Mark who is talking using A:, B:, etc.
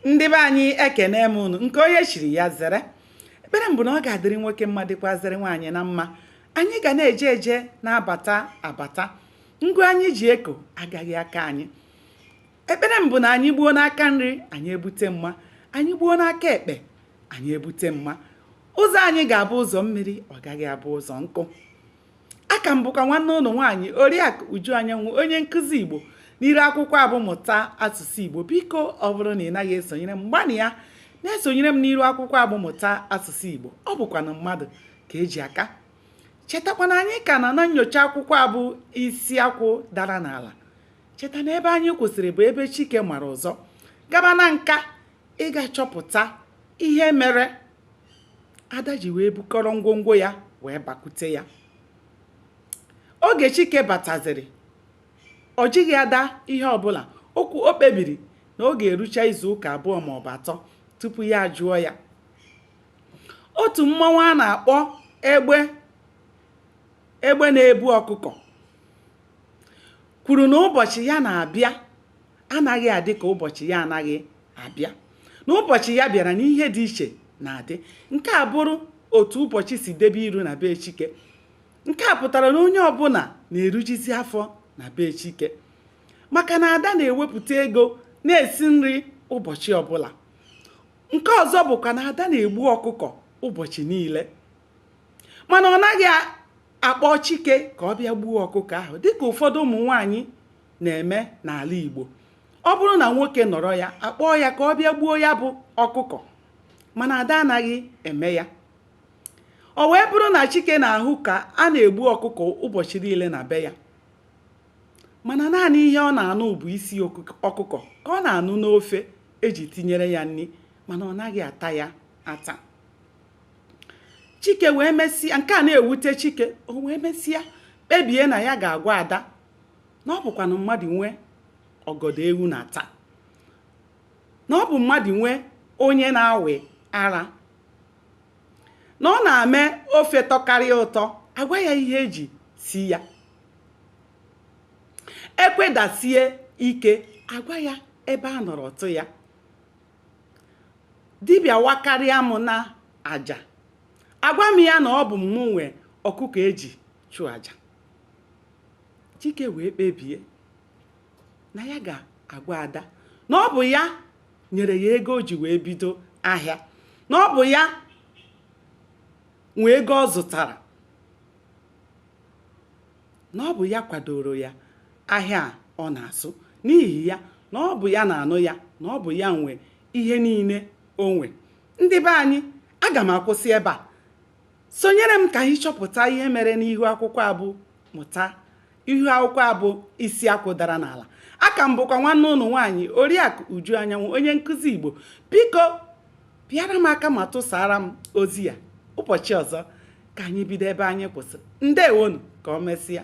A: ndị be anyị ekene m unu nke onye chiri ya zere ekpere m bụ na ọ ga-adịrị nwoke mma dịkwazịrị nwaanyị na mma anyị ga na-eje eje na-abata abata ngụ anyị ji eko agaghị aka anyị ekpere m bụ na anyị gbuo n'aka nri anyị ebute mma anyị gbuo n'aka ekpe anyị ebute mma ụzọ anyị ga-abụ ụzọ mmiri ọ gaghị abụ ụzọ nkụ a ka m bụkwa nwanne unu nwaanyị oriakụ uju anyanwụ onye nkụzi igbo n'iru akwụkwọ a bụ mụta asụsụ igbo biko ọ bụrụ na ị naghị esonyere m gbanịa na-esonyere m n'iru akwụkwọ a bụ mụta asụsụ igbo ọ bụkwanụ mmadụ ka eji aka chetakwa na anyị ka nọ na nnyocha akwụkwọ a bụ isi akwụ dara n'ala cheta na ebe anyị kwụsịrị bụ ebe chike mara ụzọ gaba nanka ịga chọpụta ihe mere ada ji wee bukọrọ ngwongwo ya wee bakute ya oge chike bataziri ọ jụghị ada ihe ọbụla okwu o kpebiri na ọ ga-erucha izu ụka abụọ ma ọ bụ atọ tupu ya ajụọ ya otu mmanwụ a na-akpọ egbe na-ebu ọkụkọ kwuru na ụbọchị ya na-abịa anaghị adị ka ụbọchị ya anaghị abịa na ụbọchị ya bịara na ihe dị iche na-adị nke a bụrụ otu ụbọchị si debe iru na be Chike nke a pụtara na onye ọbụla na-erujizi afọ na be Chike maka na ada na-ewepụta ego na-esi nri ụbọchị ọbụla nke ọzọ bụkwa na ada na-egbu ọkụkọ ụbọchị niile mana ọ naghị akpọ Chike ka ọ bịa gbuo ọkụkọ ahụ dịka ụfọdụ ụmụ nwaanyị na-eme n'ala Igbo ọ bụrụ na nwoke nọrọ ya akpọọ ya ka ọ bịa gbuo ya bụ ọkụkọ mana ada anaghị eme ya o wee bụrụ na Chike na-ahụ ka a na-egbu ọkụkọ ụbọchị niile na be ya mana naanị ihe ọ na-anụ bụ isi ọkụkọ ka ọ na-anụ n'ofe eji tinyere ya nri mana ọ naghị ata ya ata chike wee mesịa nke a na-ewute chike o wee mesịa kpebie na ya ga-agwa ada na ọ bụkwanụ mmadụ nwe ọgọdọ ewu na-ata na ọ bụ mmadụ nwe onye na-awị ara na ọ na-eme ofe tọkarịa ụtọ agwa ya ihe eji sie ya ekwedasie ike agwa ya ebe a nọrọ tụ ya dibịa wakarịa m na aja agwa m ya na ọ bụ mụ nwe ọkụkọ eji chụọ aja chike wee kpebie na ya ga-agwa ada na ọ bụ ya nyere ya ego o ji wee bido ahịa na ọ bụ ya nwe ego ọ zụtara na ọ bụ ya kwadoro ya ahịa ọ na-azụ n'ihi ya na ọ bụ ya na-anụ ya na ọ bụ ya nwe ihe niile o nwe ndị be anyị aga m akwụsị ebe a sonyere m ka anyị chọpụta ihe mere n'ihu akwụkwọ a bụ mụta ihu akwụkwọ a bụ isi akwụ dara n'ala aka m bụkwa nwanne ụnụ nwaanyị oriakụ uju anyanwụ onye nkụzi igbo biko pịara m aka ma tụsaara m ozi a ụbọchị ọzọ ka anyị bido ebe anyị kwụsịrị ndewonu ka o mesịa